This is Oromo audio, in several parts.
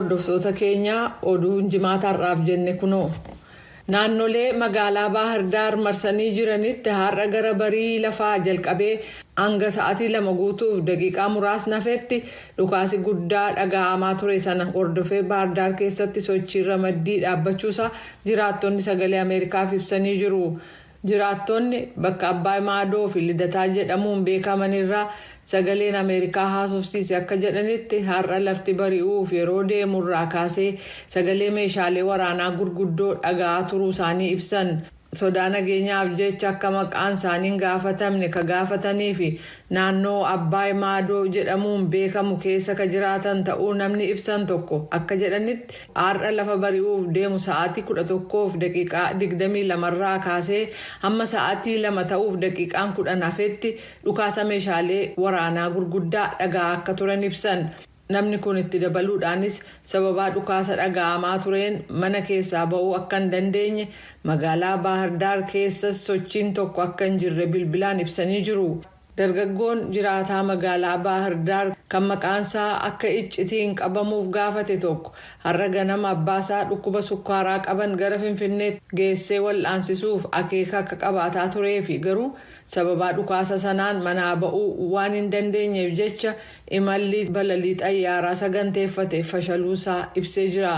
Hordoftoota keenya oduun jimaata har'aaf jenne kunoo. Naannolee magaalaa Baahirdaar marsanii jiranitti har'a gara barii lafaa jalqabee hanga sa'atii lama guutuuf daqiiqaa muraasni hafetti dhukaasi guddaa dhaga'amaa ture sana hordofee Baahirdaar keessatti sochiin ramaddii dhaabbachuusaa jiraattonni sagalee Ameerikaaf ibsanii jiru. Jiraattoonni bakka Abbaay Maadoo fi Lidataa jedhamuun beekaman irraa Sagaleen Ameerikaa haasofsiise akka jedhanitti har'a lafti bari'uuf yeroo deemu irraa kaasee sagalee meeshaalee waraanaa gurguddoo dhaga'aa turuu isaanii ibsan. Sodaa nageenyaaf jecha akka maqaan isaanii hin gaafatamne ka gaafatanii fi Naannoo Abbaay Maadoo jedhamuun beekamu keessa ka jiraatan ta'uu namni ibsan tokko akka jedhanitti, har'a lafa bari'uuf deemu sa'aatii 11:22 irraa kaasee hamma sa'aatii 2 ta'uuf daqiiqaan 10 hafetti dhukaasa meeshaalee waraanaa gurguddaa dhaga'aa akka turan ibsan. Namni kun itti dabaluudhaanis sababaa dhukaasa dhaga'amaa tureen mana keessaa ba'uu akka hin dandeenye, magaalaa Baahir Daar keessas sochiin tokko akka hin jirre bilbilaan ibsanii jiru. Dargaggoon jiraataa magaalaa Baahir Daar kan maqaansaa akka iccitii hin qabamuuf gaafate tokko har'a ganama abbaasaa dhukkuba sukkaaraa qaban gara Finfinneetti geessee wal'aansisuuf akeeka akka qabaataa tureefi garuu Sababaa dhukaasa sanaan manaa ba'uu waan hin dandeenyeef jecha imalli balalii xayyaaraa saganteeffate fashaluu isaa ibsee jira.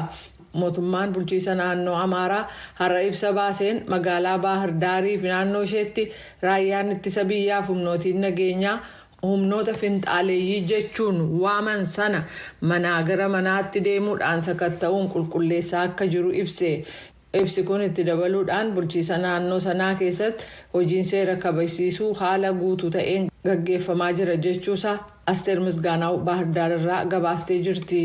Mootummaan bulchiisa naannoo Amaaraa har'a ibsa baaseen magaalaa Baahir Daarii fi naannoo isheetti raayyaan ittisa biyyaa fi humnootiin nageenyaa humnoota finxaaleeyyii jechuun waaman sana manaa gara manaatti deemuudhaan sakatta'uun qulqulleessaa akka jiru ibse. Ibsi kun itti dabaluudhaan bulchiisa naannoo sanaa keessatti hojiin seera kabajsiisuu haala guutu ta'een gaggeeffamaa jira jechuu isaa Asteer Misgaanaaw Baahirdaar irraa gabaastee jirti.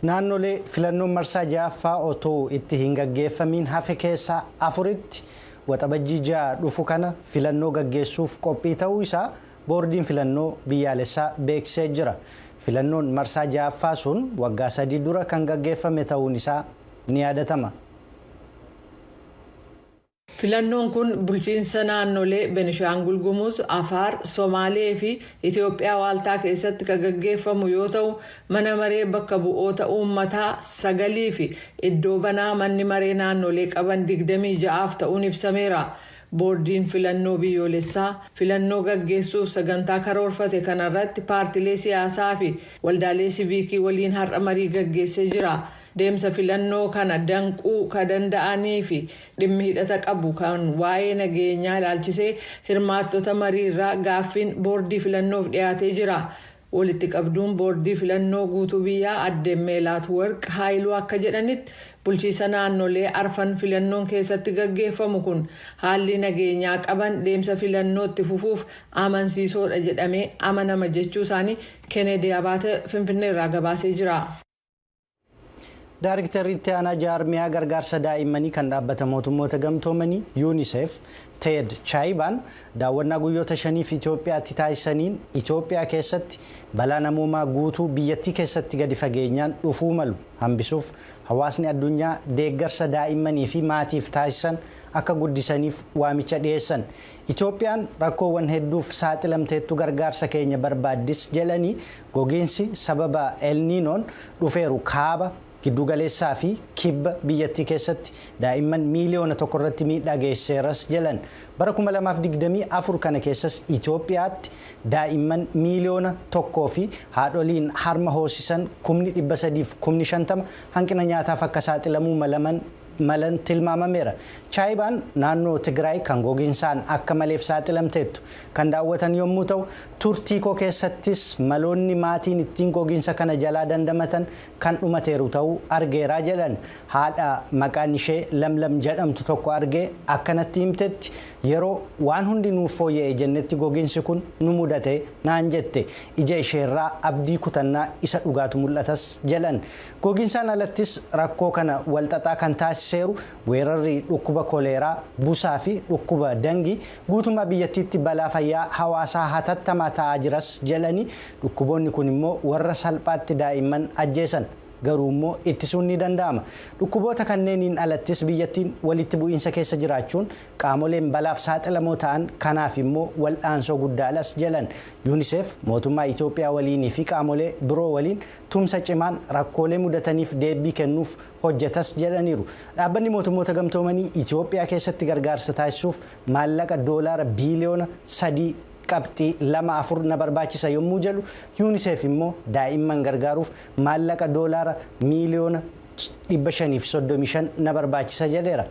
Naannolee filannoon marsaa 6ffaa otuu itti hin gaggeeffamiin hafe keessaa 4tti Waxabajjii 6 dhufu kana filannoo gaggeessuuf qophii ta'uu isaa Boordiin filannoo biyyaalessaa beeksisee jira. Filannoon marsaa ja'affaa sun waggaa sadii dura kan gaggeeffame ta'uun isaa ni yaadatama. Filannoon kun bulchiinsa naannolee Benishaangul Gumuz, Afaar, Somaalee fi Itoophiyaa waaltaa keessatti kan gaggeeffamu yoo ta'u, mana maree bakka bu'oota uummataa sagalii fi iddoo banaa manni maree naannolee qaban digdamii ja'aaf ta'uun ibsameera. Boordiin Filannoo Biyyoolessaa filannoo gaggeessuuf sagantaa karoorfate kana irratti paartilee siyaasaa fi waldaalee siviikii waliin har'a marii gaggeessee jira. Deemsa filannoo kana danquu ka danda'anii fi dhimmi hidhata qabu kan waa'ee nageenyaa ilaalchisee hirmaattota marii irraa gaaffiin boordii filannoof dhiyaatee jira. Walitti qabduun boordii filannoo guutuu biyyaa adde Meelaat Warq Haayiluu akka jedhanitti, bulchiisa naannolee arfan filannoon keessatti gaggeeffamu kun haallii nageenyaa qaban deemsa filannoo itti fufuuf amansiisoodha jedhamee amanama jechuu isaanii Keeneedii Abaate Finfinneerraa gabaasee jira. Daariktarri itti aanaa jaarmiyaa gargaarsa daa'immanii kan dhaabbata mootummoota gamtoomanii UNICEF Teed Chaayibaan daawwannaa guyyoota shaniif Itoophiyaatti taasisaniin Itoophiyaa keessatti balaa namoomaa guutuu biyyattii keessatti gadi fageenyaan dhufuu malu hambisuuf hawaasni addunyaa deeggarsa daa'immanii fi maatiif taasisan akka guddisaniif waamicha dhiyeessan. Itoophiyaan rakkoowwan hedduuf saaxilamteettu gargaarsa keenya barbaaddis jedhanii, gogiinsi sababa El Niinoon dhufeeru kaaba, gidduu galeessaa fi kibba biyyattii keessatti daa'imman miiliyoona tokko irratti miidhaa geessiseeras jedhan. Bara 2024 kana keessas Itoophiyaatti daa'imman miiliyoona tokkoo fi haadholiin harma hoosisan kumni 300 fi kumni 50 hanqina nyaataaf akka saaxilamuu malaman malan tilmaamameera. Chaayibaan naannoo Tigraay kan goginsaan akka maleef saaxilamteettu kan daawwatan yommuu ta'u, turtiikoo keessattis maloonni maatiin ittiin goginsa kana jalaa dandamatan kan dhumateeru ta'uu argeera jedhan. Haadha maqaan ishee Lamlam jedhamtu tokko argee akka natti himtetti, yeroo waan hundi nuuf fooyya'e jennetti goginsi kun nu mudate, naan jette. Ija isheerraa abdii kutannaa isa dhugaatu mul'atas jedhan. Goginsaan alattis rakkoo kana walxaxaa kan taasiseeru weerarri dhukkuba koleeraa, busaa fi dhukkuba Dangi guutummaa biyyattiitti balaa fayyaa hawaasaa hatattamaa ta'aa jiras jedhanii, dhukkuboonni kun immoo warra salphaatti daa'imman ajjeesan. Garuu immoo ittisuun ni danda'ama. Dhukkuboota kanneeniin alattis biyyattiin walitti bu'iinsa keessa jiraachuun qaamoleen balaaf saaxilamoo ta'an kanaaf immoo wal'aansoo guddaadhas jedhan. Unicef mootummaa Itoophiyaa waliinii fi qaamolee biroo waliin tumsa cimaan rakkoolee mudataniif deebbii kennuuf hojjetas jedhaniiru. Dhaabbanni Mootummoota Gamtoomanii Itiyoophiyaa keessatti gargaarsa taasisuuf maallaqa doolaara biiliyoona 3 qabxii 2 4 na barbaachisa yommuu jedhu Yuuniseef immoo daa'imman gargaaruuf maallaqa doolaara miiliyoona 535 na barbaachisa jedheera.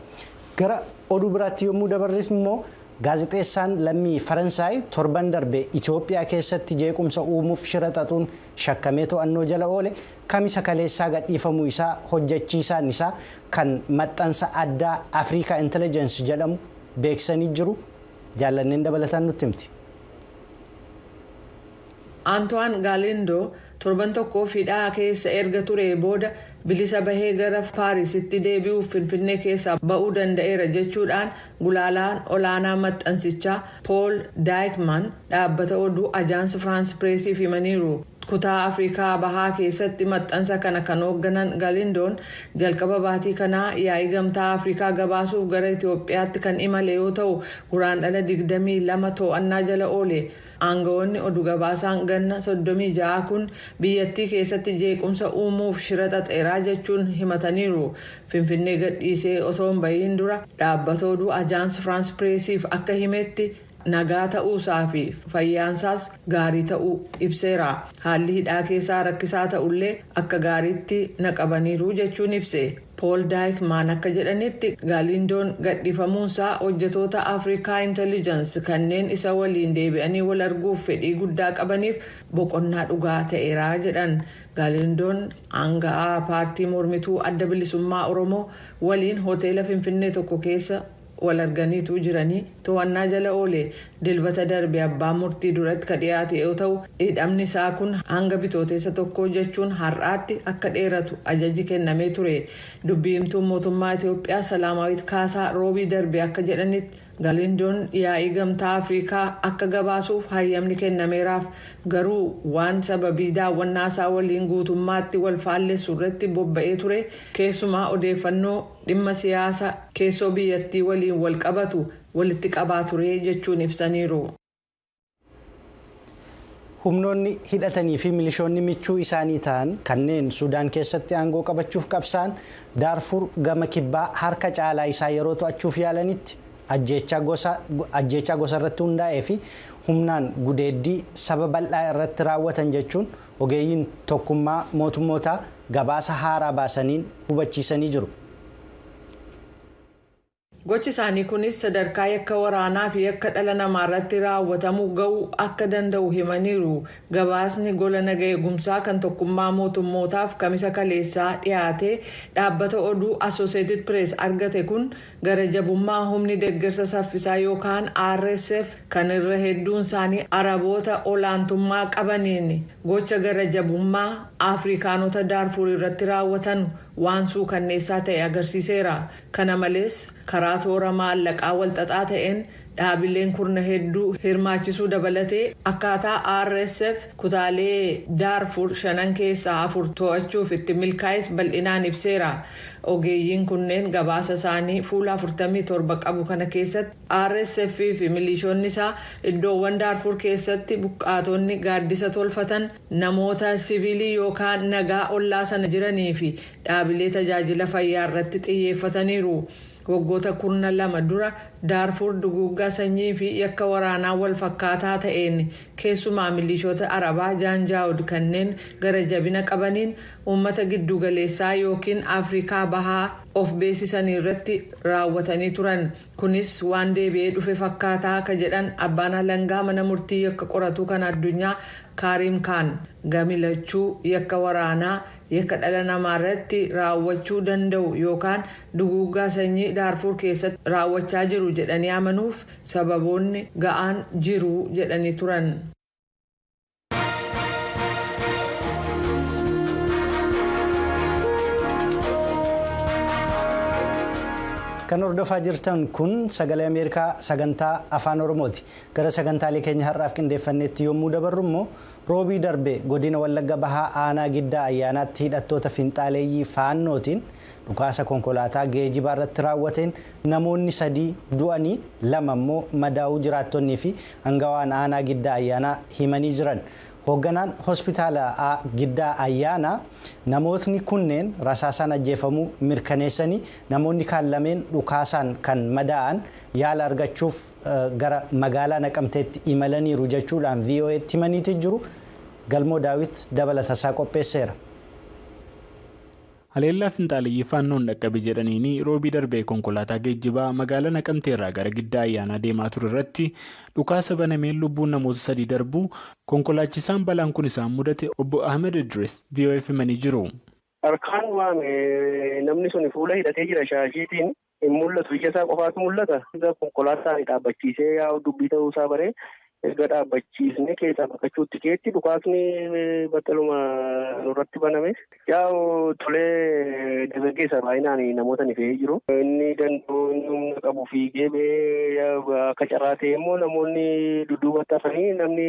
Gara oduu biraatti yommuu dabarris immoo gaazexeessaan lammii Faransaay torban darbe Itiyoophiyaa keessatti jeequmsa uumuuf shira xaxuun shakkamee to'annoo jala oole Kamisa kaleessaa gadhiifamuu isaa hojjechiisaan isaa kan maxxansa addaa Africa Intelligence jedhamu beeksisanii jiru. Jaallanneen dabalataan nutti himti. Antoine Galindo torban tokkoof hidhaa keessa erga turee booda bilisa bahee gara Paarisitti deebi'uuf Finfinnee keessaa ba'uu danda'eera jechuudhaan Gulaalaan olaanaa maxxansichaa Pool Daayikmaan dhaabbata oduu Ajaans Firaans Pireesiif himaniiru. Kutaa Afrikaa Bahaa keessatti maxxansa kana kan hoogganan Galindoon jalqaba baatii kanaa yaa'ii Gamtaa Afrikaa gabaasuuf gara Itoophiyaatti kan imale yoo ta'u, Guraandhala 22 to'annaa jala oole. Aangawoonni odu gabaasaan ganna 36 kun biyyattii keessatti jeequmsa uumuuf shira xaxeera jechuun himataniiru. Finfinnee gadhiisee osoo hin bahiin dura dhaabbata oduu Ajaans Firaans Pireesiif akka himetti nagaa ta'uusaa fi fayyaansaas gaarii ta'uu ibseera. Haalli hidhaa keessaa rakkisaa ta'ullee akka gaariitti na qabaniiru jechuun ibse. Pool Daayikmaan akka jedhanitti Gaaliindoon gadhiifamuunsaa hojjetoota Afrikaa Intellijansi kanneen isa waliin deebi'anii wal arguuf fedhii guddaa qabaniif boqonnaa dhugaa ta'eera jedhan. Galiindoon aanga'aa paartii mormituu Adda Bilisummaa Oromoo waliin hoteela Finfinnee tokko keessa wal arganiitu jiranii to'annaa jala oole Dilbata darbe abbaa murtii duratti ka dhiyaate yoo ta'u, hidhamni isaa kun hanga Bitootessa 1 jechuun har'aatti akka dheeratu ajaji kennamee ture. Dubbi himtuun mootummaa Itoophiyaa Salaamaawit Kaasaa Roobii darbe akka jedhanitti, Galiindoon yaa'ii Gamtaa Afrikaa akka gabaasuuf hayyamni kennameeraaf, garuu waan sababii daawwannaa isaa waliin guutummaatti wal faallessu irratti bobba'ee ture, keessumaa odeeffannoo dhimma siyaasa keessoo biyyattii waliin wal qabatu walitti qabaa ture jechuun ibsaniiru. Humnoonni hidhatanii fi milishoonni michuu isaanii ta'an kanneen Sudaan keessatti aangoo qabachuuf qabsa'an Daarfuur gama kibbaa harka caalaa isaa yeroo to'achuuf yaalanitti ajjeechaa gosa irratti hundaa'ee fi humnaan gudeeddii saba bal'aa irratti raawwatan jechuun ogeeyyiin tokkummaa mootummootaa gabaasa haaraa baasaniin hubachiisanii jiru. Gochi isaanii kunis sadarkaa yakka waraanaa fi yakka dhala namaarratti raawwatamu ga'uu akka danda'u himaniiru gabaasni gola naga eegumsaa kan tokkummaa mootummootaaf kamisa kaleessaa dhiyaatee dhaabbata oduu Associated Press argate kun gara jabummaa humni deggersa saffisaa yookaan RSF kan irra hedduun isaanii Araboota olaantummaa qabaniin gocha gara jabummaa Afrikaanota Daarfuur irratti raawwatan waan suukanneessaa ta'e agarsiiseera Kana malees, karaa toora maallaqaa walxaxaa ta'een dhaabileen kurna hedduu hirmaachisuu dabalatee akkaataa RSF kutaalee Daarfur shanan keessaa afur to'achuuf itti milkaa'es bal'inaan ibseera. Ogeeyyiin kunneen gabaasa isaanii fuula afurtamii torba qabu kana keessatti, RSF fi miliishonni isaa iddoowwan Daarfur keessatti buqqaatonni gaaddisa tolfatan, namoota siviilii yookaan nagaa ollaa sana jiranii fi dhaabilee tajaajila fayyaa irratti xiyyeeffataniiru. Waggoota kurna lama dura Daarfuur duguuggaa sanyii fi yakka waraanaa wal fakkaataa ta'een keessumaa miliishoota Arabaa Jaanjaawud kanneen gara jabina qabaniin uummata gidduu galeessaa ykn Afrikaa Bahaa of beesisanii irratti raawwatanii turan. Kunis waan deebi'ee dhufe fakkaata ka jedhan abbaan alangaa mana murtii yakka qoratuu kan addunyaa Kaariim Kaan gami lachuu yakka waraanaa Yakka dhala namaa irratti raawwachuu danda'u yookaan duguuggaa sanyii Daarfuur keessatti raawwachaa jiru jedhanii amanuuf sababoonni ga'aan jiru jedhanii turan. Kan hordofaa jirtan kun sagalee Ameerikaa sagantaa Afaan Oromooti. Gara sagantaalee keenya har'aaf qindeeffanneetti yommuu dabarru immoo Roobii darbe Godina Wallagga Bahaa Aanaa Giddaa Ayyaanaatti hidhattoota finxaaleeyyii Faannootiin dhukaasa konkolaataa geejibaa irratti raawwateen namoonni sadii du'anii lama immoo madaa'uu jiraattonnii fi angawaan Aanaa Giddaa Ayyaanaa himanii jiran. Hoogganaan Hospitaala A Giddaa Ayyaanaa namootni kunneen rasaasaan ajjeefamuu mirkaneessanii namoonni kaan lameen dhukaasaan kan madaa'an yaala argachuuf gara magaalaa Naqamteetti imalaniiru jechuudhaan VOA'tti himaniiti jiru. Galmoo Daawit dabalatasaa qopheesseera. Haleellaa finxaaleyyii Faannoon dhaqqabe jedhaniin Roobii darbe konkolaataa geejjibaa magaalaa Naqamteerraa gara Giddaa Ayyaanaa deemaa ture irratti dhukaasa banameen lubbuun namoota sadii darbuu konkolaachisaan balaan kun isaan mudate Obbo Ahmed Idris VOA'f himanii jiru. Harkaan waan namni sun fuula hidhatee jira shaashiitiin. Hin mul'atu. Ija isaa qofaatu mul'ata. Erga konkolaataa ani dhaabbachiisee yaa'u dubbii ta'uu isaa baree erga dhaabbachiisnee keessaa baqachuutti keetti dhukaasni battaluma nurratti baname. Yaa'u tolee dargaggeessa baay'inaan namoota ni fe'ee jiru. Inni danda'u inni humna qabu fiigee ba'ee akka carraa ta'ee immoo namoonni dudduubatti hafanii namni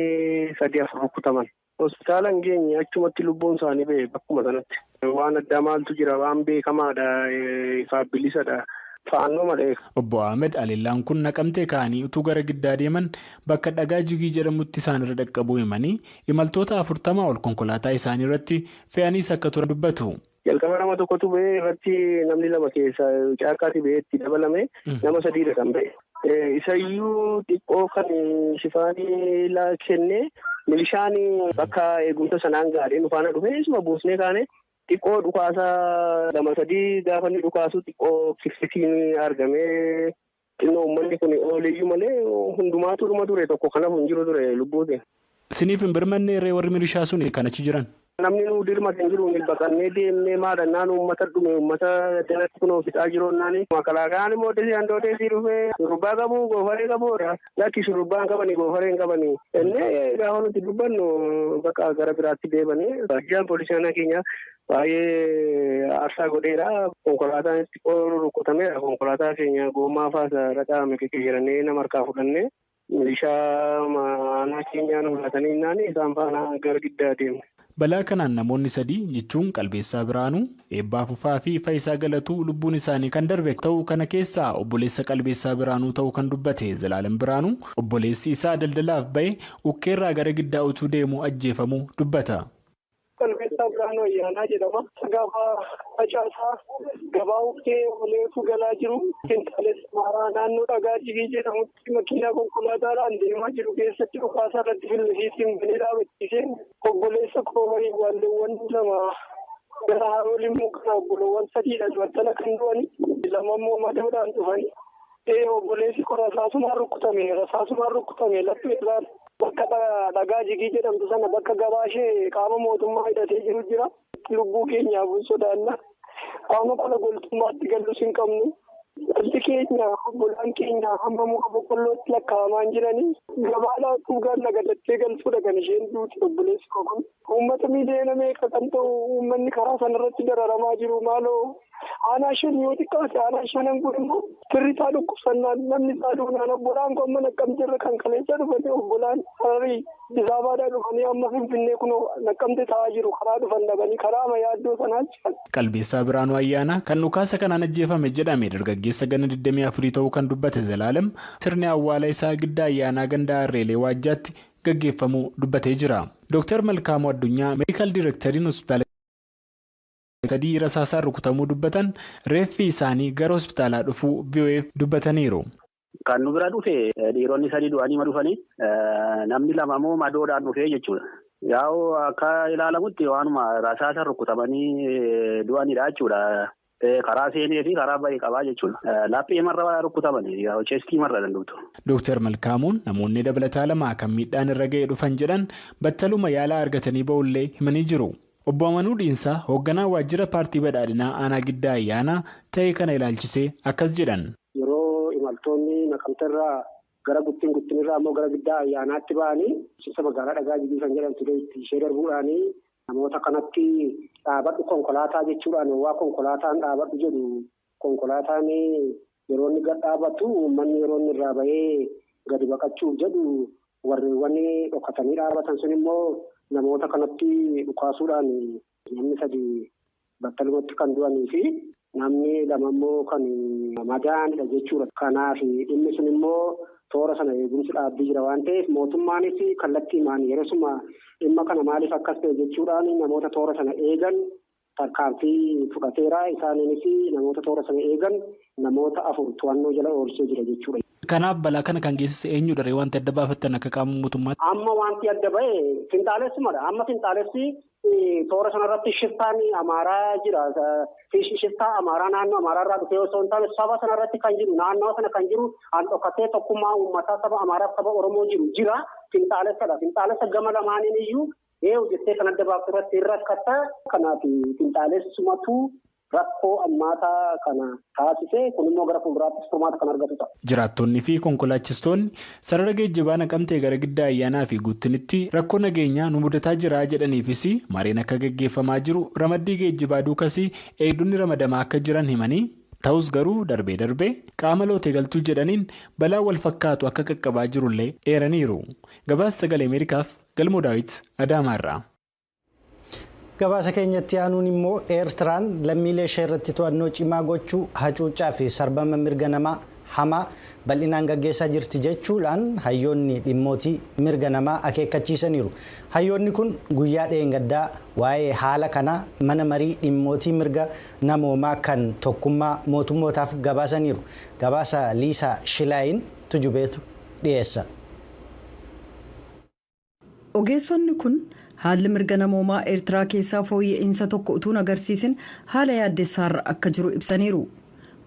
sadii afur rukkutaman. Hospitaala hin geenye achumatti lubbuun isaanii bahe bakkuma sanatti. Waan addaa maaltu jira waan beekamaadha ifaaf bilisadha. Faannoo malee. Obbo Ahmed haleellaan kun Naqamtee ka'anii utuu gara Giddaa deeman bakka dhagaa Jigii jedhamutti isaan irra dhaqqabuu himanii, imaltoota afurtamaa ol konkolaataa isaanii irratti fe'aniis akka turan dubbatu. Jalqaba nama tokkotu ba'e irratti namni lama keessa caakkaati ba'ee itti dabalame nama sadiidha kan ba'e. Isayyuu xiqqoo kan shifaanii laa kenne milishaan bakka eegumsa sanaan gaadhee nu faana dhufee isuma buusnee kaane xiqqoo dhukaasa lama sadii gaafa inni dhukaasu xiqqoo kifsitiin argamee Xinnoo ummanni kun ooleyyuu malee hundumaatu dhuma ture tokko kan hafu hin jiru ture lubbuuti. Siniif hin birmannee ree warri milishaa suni kan achi jiran? Namni nuu dirmate hin jiru nuyi baqannee deemnee maadhannaan uummata dhume uummata jalatti kunoo fixaa jiru naani. Makalaakayaan immoo desii handoo desii dhufee shurrubbaa qabu goofaree qabu lakki shurrubbaa hin qabani goofaree hin qabani. Innee gaafa nuti dubbannu baqa gara biraatti deebanii. Ajjaan poolisii aanaa keenyaa Baay'ee aarsaa godheera. Konkolaataan xiqqoo rukkutameera. Konkolaataa keenya gommaa faas dhadhaame geggeeyyaranee nama harkaa fudhanne. Milishaa aanaa keenyaa nu laatanii innaan isaan faana gara giddaa deemne. Balaa kanaan namoonni sadii jechuun Qalbeessaa Biraanuu, Eebbaa Fufaa fi Fayisaa Galatuu lubbuun isaanii kan darbe ta'u kana keessaa obboleessa Qalbeessaa Biraanuu ta'u kan dubbate Zalaalam Biraanuu obboleessi isaa daldalaaf ba'e ukkeerraa gara giddaa utuu deemuu ajjeefamuu dubbata. Qalbeessaa Birhaanuu Ayyaanaa jedhama. Gaafa facaasaa gabaa huftee oleetu galaa jiru. Finxaalessa maaraa naannoo dhagaa dhibii jedhamutti makiinaa konkolaataadhaan deemaa jiru keessatti dhukaasaa irratti fillisiitiin banee dhaabachiiseen obboleessa koo waliin waalleewwan lama gara haroo limmuu kana obboloowwan sadiidhaan battala kan du'ani lama immoo madaadhaan dhufani. Ee obboleessi koo rasaasumaan rukkutame rasaasumaan rukkutame laphee isaatti bakka dhagaa jigii jedhamtu sana bakka gabaa ishee qaama mootummaa hidhatee jiru jira. Lubbuu keenyaaf hin sodaanna. Qaama kana goltummaatti gallus hin qabnu. Dhalli keenya obbolaan keenya hamma muka boqqollootti lakkaa'amaan jiranii gabaa laaquuf gaalla gatattee galtuudha kan isheen duute obboleessi koo kun. Uummata miiliyoona meeqa kan ta'u uummanni karaa sanarratti dararamaa jiru maaloo aanaa shan yoo xiqqaate aanaa shanan kun immoo firri isaa dhukkubsannaan namni isaa duunaan obbolaan kun amma naqqamte irra kan kaleessa dhufanii obbolaan hararii disaabaadhaa dhufanii amma finfinnee kunoo naqqamte ta'aa jiru karaa dhufan dhabanii karaa ama yaaddoo sanaa jiran. Qalbeessaa Biraanuu Ayyaanaa kan dhukaasa kanaan ajjeefame jedhame dargaggeessa ganna 24 ta'uu kan dubbate Zalaalem sirni awwaala isaa giddaa ayyaanaa ganda Harreelee Waajjaatti gaggeeffamuu dubbatee jira. Dooktar Malkaamuu Addunyaa Meedikaal Direektariin Hospitaala Giddu Galeessaa Gimbii sadii rasaasaan rukutamuu dubbatan reeffi isaanii gara hospitaalaa dhufuu VOAf dubbataniiru. Kan nu bira dhufe dhiironni sadii du'aniima dhufanii namni lama immoo madoodhaan dhufee jechuudha. Yaa'u akka ilaalamutti waanuma rasaasaan rukutamanii du'anidha jechuudha. Karaa seenee fi karaa bahe qabaa jechuudha. Laphee marra rukkutaman chestii marra dandubtu. Dooktar Malkaamuun namoonni dabalataa lama kan miidhaan irra ga'e dhufan jedhan battaluma yaala argatanii ba'ullee himanii jiru. Obbo Amanuu Dhiinsaa hoogganaa waajjira paartii badhaadhinaa aanaa Giddaa Ayyaanaa ta'ee kana ilaalchisee akkas jedhan. Yeroo imaltoonni Naqamterraa gara Guttin, Guttinirraa immoo gara Giddaa Ayyaanaatti ba'anii bulchiinsa magaalaa Dhagaa Jibii kan jedhamtu ishee darbuudhaan Namoota kanatti dhaabadhu konkolaataa jechuudhaan owwaa konkolaataan dhaabadhu jedhu konkolaataan yeroo inni gad dhaabatu uummanni yeroo inni irraa bahee gadi baqachuuf jedhu warreewwan dhokatanii dhaabatan sun immoo namoota kanatti dhukaasuudhaan namni sadi battalumatti kan du'anii fi namni lama immoo kan madaa'anidha jechuudha. Kanaaf dhimmi sun immoo toora sana eegumsi dhaabbii jira waan ta'eef mootummaanis kallattiimaan yerosuma dhimma kana maaliif akkas ta'e jechuudhaan namoota toora sana eegan tarkaanfii fudhateera. Isaaniinis namoota toora sana eegan namoota afur to'annoo jala oolchee jira jechuudha. Kanaaf balaa kana kan geessise eenyudha ree wanti adda baafattan akka qaama mootummaatti? Amma wanti adda ba'e finxaalessumadha. Amma finxaalessi Toora sanarratti shiftaan Amaaraa jira. Shiftaa Amaaraa naannoo Amaaraarraa dhufee osoo hin taane saba sanarratti kan jiru naannawa sana kan jiru an dhokatee tokkummaa uummataa saba Amaaraaf saba Oromoo jiru jira. Finxaalessadha. Finxaalessa gama lamaaniin iyyuu ee hojjettee kan adda baaftu irratti hin rakkatta. Kanaaf finxaalessumatu rakkoo hammaataa kana taasise. Kun immoo gara fuulduraattis furmaata kan argatu ta'a. Jiraattoonni fi konkolaachistoonni sarara geejjibaa Naqamtee gara Giddaa Ayyaanaa fi Guuttinitti rakkoo nageenyaa nu mudataa jira jedhaniifis mariin akka gaggeeffamaa jiru, ramaddii geejjibaa duukas eegdonni ramadamaa akka jiran himanii, ta'us garuu darbee darbee qaama lootee galtuu jedhaniin balaan wal fakkaatu akka qaqqabaa jirullee eeraniiru. Gabaasa Sagalee Ameerikaaf Galmoo Daawit Adaamaarraa. Gabaasa keenyatti aanuun immoo Eertiraan lammiilee ishee irratti to'annoo cimaa gochuu hacuuccaa fi sarbama mirga namaa hamaa bal'inaan gaggeessaa jirti jechuudhaan hayyoonni dhimmootii mirga namaa akeekkachiisaniiru. Hayyoonni kun guyyaa dheengaddaa waa'ee haala kanaa mana marii dhimmootii mirga namoomaa kan tokkummaa mootummootaaf gabaasaniiru. Gabaasa Liisaa Shilaayin tujubeetu dhiyeessa. Ogeessonni kun haalli mirga namoomaa Eertiraa keessaa fooyya'iinsa tokko utuu hin agarsiisin haala yaaddessaarra akka jiru ibsaniiru.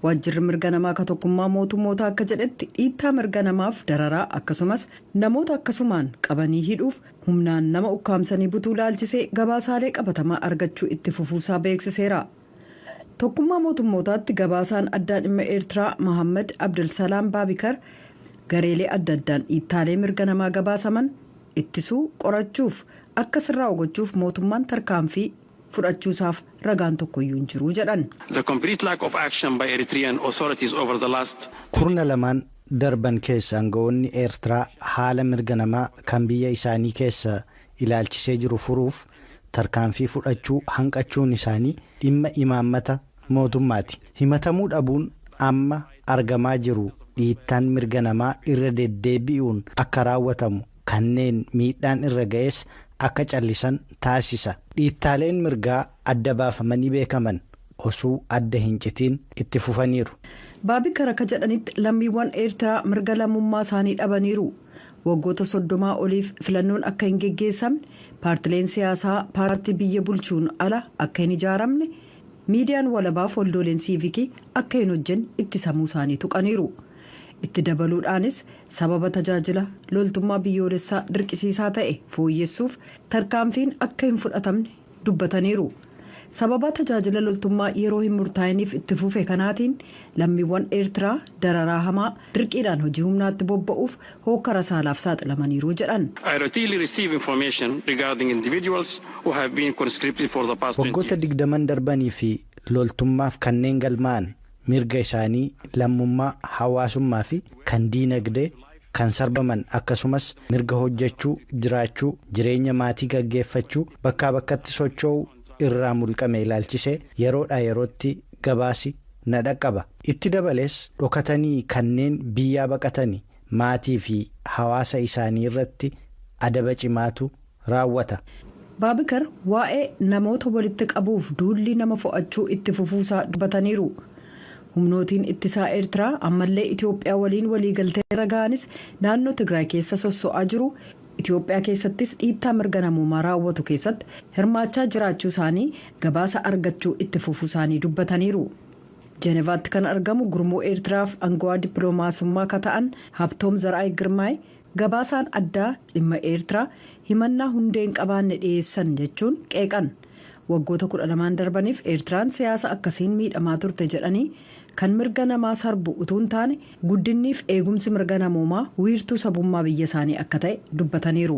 Waajjirri mirga namaa ka tokkummaa mootummootaa akka jedhetti dhiittaa mirga namaaf dararaa akkasumas namoota akkasumaan qabanii hidhuuf humnaan nama ukkaamsanii butuu ilaalchisee gabaasaalee qabatamaa argachuu itti fufuusaa beeksiseera. Tokkummaa Mootummootaatti gabaasaan addaa dhimma Eertiraa Mahaammad Abdulsalaam Baabikar gareelee adda addaan dhiittaalee mirga namaa gabaasaman ittisuu, qorachuuf akka sirraa'u gochuuf mootummaan tarkaanfii fudhachuusaaf ragaan tokkoyyuu hin jiru jedhan. The complete lack of action by Eritrean authorities over the last two. Kurna lamaan darban keessa angawoonni Eertiraa haala mirga namaa kan biyya isaanii keessa ilaalchisee jiru furuuf tarkaanfii fudhachuu hanqachuun isaanii dhimma imaammata mootummaati. Himatamuu dhabuun amma argamaa jiru dhiittaan mirga namaa irra deddeebi'uun akka raawwatamu, kanneen miidhaan irra ga'es akka callisan taasisa. Dhiittaaleen mirgaa adda baafamanii beekaman osuu adda hin citiin itti fufaniiru. Baabikar akka jedhanitti lammiiwwan Eertiraa mirga lammummaa isaanii dhabaniiru. Waggoota soddomaa oliif filannoon akka hin geggeessamne, paartileen siyaasaa paartii biyya bulchuun ala akka hin ijaaramne, miidiyaan walabaaf waldooleen siivikii akka hin hojjenne ittisamuu isaanii tuqaniiru. Itti dabaluudhaanis sababa tajaajila loltummaa biyyoolessaa dirqisiisaa ta'e fooyyessuuf tarkaanfiin akka hin fudhatamne dubbataniiru. Sababaa tajaajila loltummaa yeroo hin murtaa'iniif itti fufe kanaatiin lammiiwwan Eertiraa dararaa hamaa, dirqiidhaan hojii humnaatti bobba'uuf, hookkara saalaaf saaxilamaniiru jedhan. I routinely receive information regarding individuals who have been conscripted for the past 20 Waggoota years. digdaman darbanii fi loltummaaf kanneen galmaa'an mirga isaanii, lammummaa, hawaasummaa fi kan diinagdee, kan sarbaman akkasumas mirga hojjachuu, jiraachuu, jireenya maatii gaggeeffachuu, bakkaa bakkatti socho'uu irraa mulqame ilaalchisee yeroodhaa yerootti gabaasi na dhaqqaba. Itti dabalees, dhokatanii kanneen biyyaa baqatani maatii fi hawaasa isaanii irratti adaba cimaatu raawwata. Baabikar waa'ee namoota walitti qabuuf duulli nama fo'achuu itti fufuu isaa dubbataniiru. Humnootiin ittisaa Eertiraa ammallee Itoophiyaa waliin waliigaltee irra gahanis naannoo Tigraay keessa sosso'aa jiru, Itoophiyaa keessattis dhiittaa mirga namoomaa raawwatu keessatti hirmaachaa jiraachuu isaanii gabaasa argachuu itti fufuu isaanii dubbataniiru. Jenevaatti kan argamu gurmuu Eertiraaf angawaa dippilomaasummaa ka ta'an Habtoom Zar'aay Girmaay gabaasaan addaa dhimma Eertiraa himannaa hundee hin qabaanne dhiyeessan jechuun qeeqan. Waggoota 12n darbaniif Eertiraan siyaasa akkasiin miidhamaa turte jedhanii, kan mirga namaa sarbu utuu hin taane guddinniif eegumsi mirga namoomaa wiirtuu sabummaa biyya isaanii akka ta'e dubbataniiru.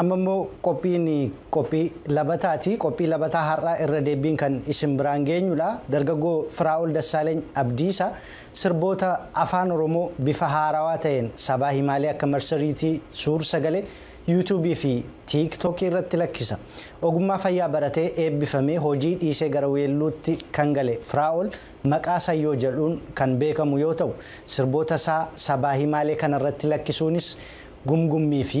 Amma immoo qophiin qophii labataati. Qophii labataa har'aa irra deebiin kan isin biraan geenyudha. Dargaggoo Firaa'ol Dassaaleny Abdiisa sirboota afaan Oromoo bifa haarawaa ta'een sabaa himaalee akka marsariitii, suur sagalee, yuutuubii fi tiiktookii irratti lakkisa. Ogummaa fayyaa baratee eebbifamee hojii dhiisee gara weelluutti kan gale Firaa'ol maqaa Sayyoo jedhuun kan beekamu yoo ta'u, sirboota isaa sabaa himaalee kanarratti lakkisuunis gumgummii fi